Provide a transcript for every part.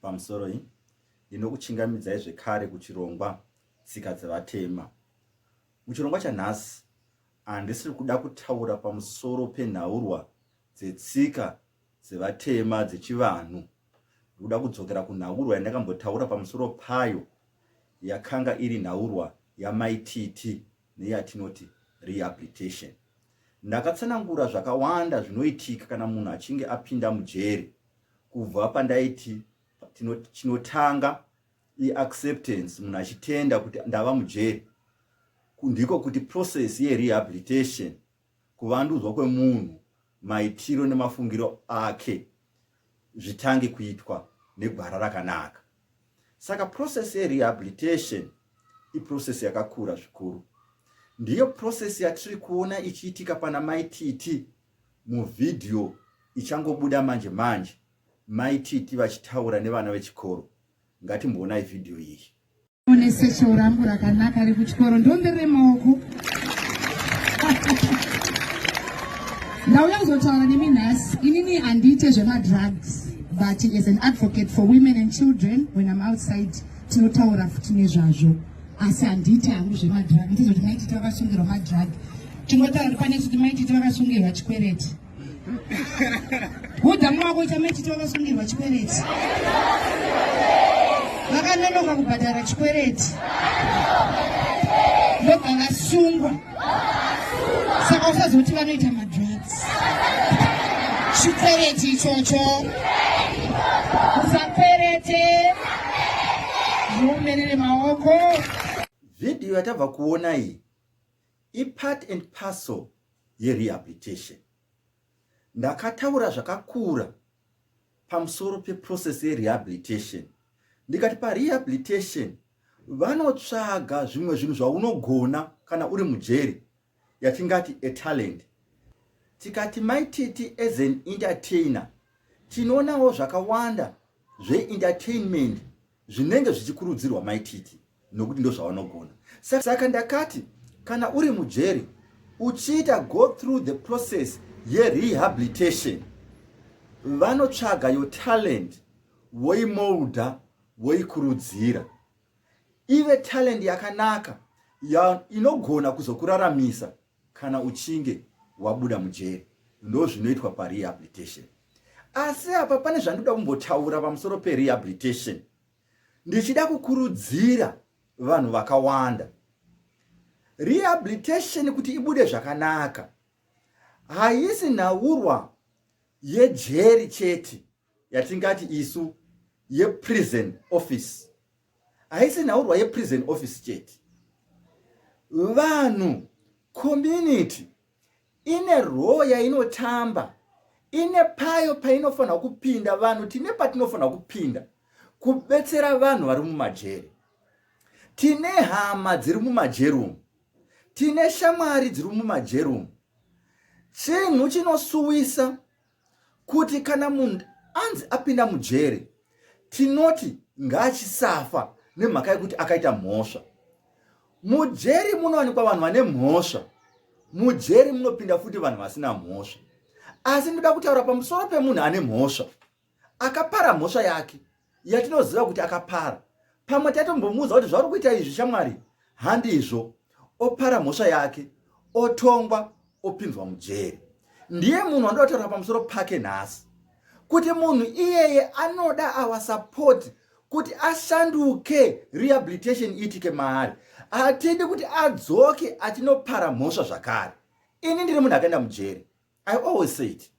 Pamusoroi, ndinokuchingamidzai zvekare kuchirongwa Tsika dzeVatema. Muchirongwa chanhasi, handisiri kuda kutaura pamusoro penhaurwa dzetsika dzevatema dzechivanhu. Ndikuda kudzokera kunhaurwa yandakambotaura pamusoro payo yakanga iri nhaurwa yamaititi neyatinoti rehabilitation. Ndakatsanangura zvakawanda zvinoitika kana munhu achinge apinda mujeri kubva pandaiti chinotanga iacceptance munhu achitenda kuti ndava mujeri ndiko kuti process yerehabilitation kuvandudzwa kwemunhu maitiro nemafungiro ake zvitange kuitwa negwara rakanaka saka process yerehabilitation iprocess yakakura zvikuru ndiyo process yatiri kuona ichiitika pana maititi Muvhidhiyo ichangobuda manje manje, Mai Titi vachitaura nevana vechikoro. Ngatimboonai vhidhiyo iyi. One sechero rangu rakanaka rekuchikoro ndombe remaoko ndauya kuzotaura nemi nhasi inini handiite zvemadrugs but as an advocate for women and children when im outside tinotaura futi nezvazvo asi handiiti hangu zvemadhiragi tizoti maiti tavakasungirwa madhiragi tingotaura kuti pane kuti maiti tavakasungirwa chikwereti hudza mumako ita maiti tavakasungirwa chikwereti vakanonoka kubhadhara chikwereti ndobva vasungwa saka usazokuti vanoita madrugs chikwereti ichocho usakwerete zviomerere maoko vhidhiyo yatabva kuona iyi ipart and parcel yerehabilitation ndakataura zvakakura pamusoro peprocess yerehabilitation ndikati parehabilitation vanotsvaga zvimwe zvinhu zvaunogona kana uri mujeri yatingati atalent tikati maititi as an entertainer tinoonawo zvakawanda zveentertainment zvinenge zvichikurudzirwa mai Titi nokuti ndozvavanogona. Saka ndakati kana uri mujeri uchiita go through the process yerehabilitation vanotsvaga your talent voimolda voikurudzira ive talent yakanaka inogona kuzokuraramisa kana uchinge wabuda mujeri ndozvinoitwa parehabilitation asi apa pane zvandoda kumbotaura pamusoro perehabilitation ndichida kukurudzira vanhu vakawanda rehabilitation kuti ibude zvakanaka haisi nhaurwa yejeri chete yatingati isu yeprison office haisi nhaurwa yeprison office chete vanhu community ine role yainotamba ine payo painofanira kupinda vanhu tine patinofanira kupinda kubetsera vanhu vari mumajeri tine hama dziri mumajeri umu tine shamwari dziri mumajeri umu chinhu chinosuwisa kuti kana munhu anzi apinda mujere tinoti ngaachisafa nemhaka yekuti akaita mhosva mujeri munowanikwa vanhu vane mhosva mujeri munopinda futi vanhu vasina mhosva asi ndoda kutaura pamusoro pemunhu ane mhosva akapara mhosva yake yatinoziva kuti akapara pamwe taitombomuudza kuti zvauri kuita izvi shamwari handizvo opara mhosva yake otongwa opinzwa mujeri ndiye munhu wandida kutaura pamusoro pake nhasi kuti munhu iyeye anoda awa sapoti kuti ashanduke rehabilitation iitike maari hatidi kuti adzoke achinopara mhosva zvakare ini ndiri munhu akaenda mujeri I always say it.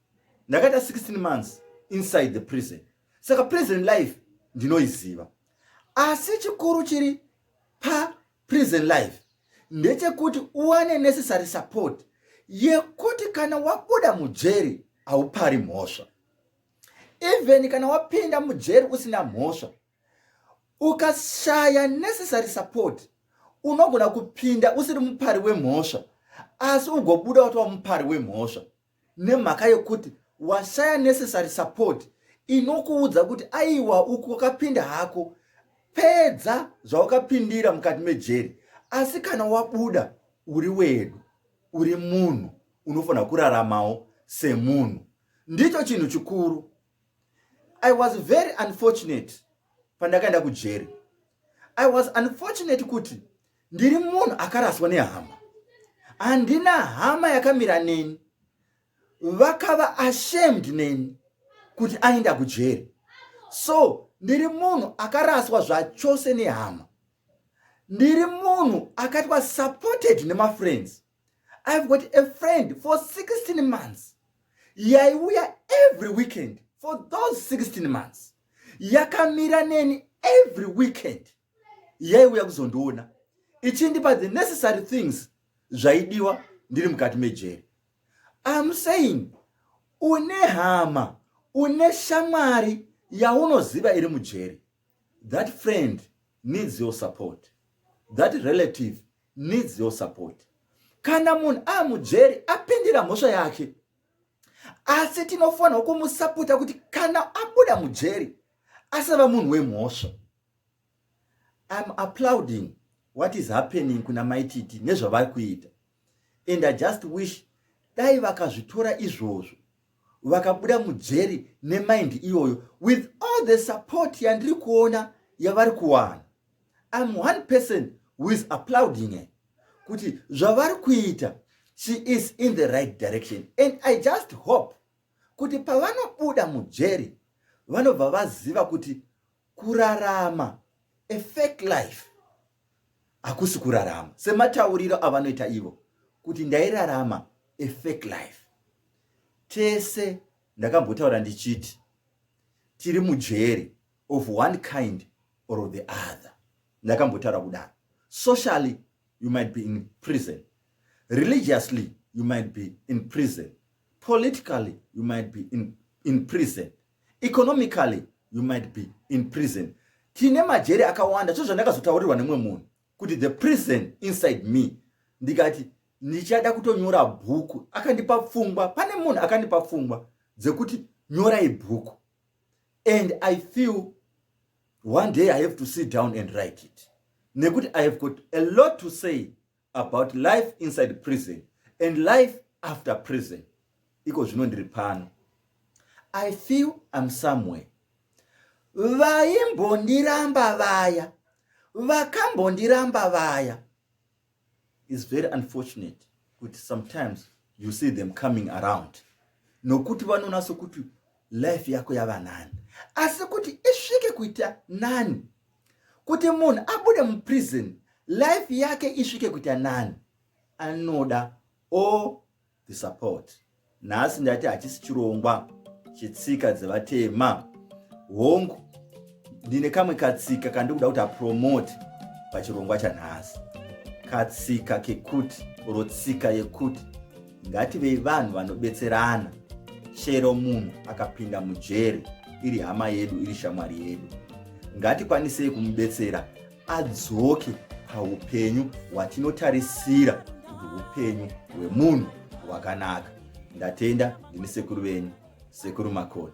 Ndakaita 16 months inside the prison. Saka prison life ndinoiziva. Asi chikuru chiri pa prison life ndechekuti uwane necessary support yekuti kana wabuda mujeri haupari mhosva. Even kana wapinda mujeri usina mhosva Ukashaya necessary support unogona kupinda usiri mupari wemhosva asi ugobuda watova mupari wemhosva nemhaka yekuti washaya necessary support inokuudza kuti aiwa uku wakapinda hako pedza zvawakapindira mukati mejeri asi kana wabuda uri wedu uri munhu unofanira kuraramawo semunhu ndicho chinhu chikuru i was very unfortunate pandakaenda kujeri i was unfortunate kuti ndiri munhu akaraswa nehama handina hama yakamira neni vakava ashamed neni kuti aenda kujeri so ndiri munhu akaraswa zvachose nehama ndiri munhu akaitwa supported nemafriends i've got a friend for 16 months yaiuya every weekend for those 16 months yakamira neni every weekend yaiuya kuzondiona ichindipa the necessary things zvaidiwa ndiri mukati mejeri am saying une hama une shamwari yaunoziva iri mujeri That friend needs your support. That relative needs your support. Kana munhu amujeri apindira mhosva yake, asi tinofanirwa kumusapota kuti kana abuda mujeri asava munhu wemhosva. I'm applauding what is happening kuna maititi nezvavari kuita and I just wish dai vakazvitora izvozvo vakabuda mujeri nemind iyoyo with all the support yandiri kuona yavari kuwana im one person who is applauding her kuti zvavari kuita she is in the right direction and i just hope kuti pavanobuda mujeri vanobva vaziva kuti kurarama a fake life hakusi kurarama sematauriro avanoita ivo kuti ndairarama a fake life tese ndakambotaura ndichiti tiri mujeri of one kind or of the other ndakambotaura kudaro socially you might be in prison religiously you might be in prison politically you might be in, in prison economically you might be in prison tine majeri akawanda so zvandakazotaurirwa nemumwe munhu kuti the prison inside me ndikati ndichada kutonyora bhuku akandipa pfungwa pane munhu akandipa pfungwa dzekuti nyorai bhuku and i feel one day i have to sit down and write it nekuti i have got a lot to say about life inside prison and life after prison iko zvino ndiri pano i feel im somewhere vaimbondiramba vaya vakambondiramba vaya is very unfortunate kuti sometimes you see them coming around nokuti vanonatso kuti life yako yava nani asi kuti isvike kuita nani kuti munhu abude muprison life yake isvike kuita nani anoda all the support nhasi ndati hachisi chirongwa chetsika dzevatema hongu ndine kamwe katsika kandiri kuda kuti apromote pachirongwa chanhasi katsika kekuti oro tsika yekuti ngativei vanhu vanobetserana chero munhu akapinda mujeri iri hama yedu iri shamwari yedu ngatikwanisei kumubetsera adzoke paupenyu hwatinotarisira kuti upenyu hwemunhu hwakanaka ndatenda ndini sekuru venyu sekuru makoni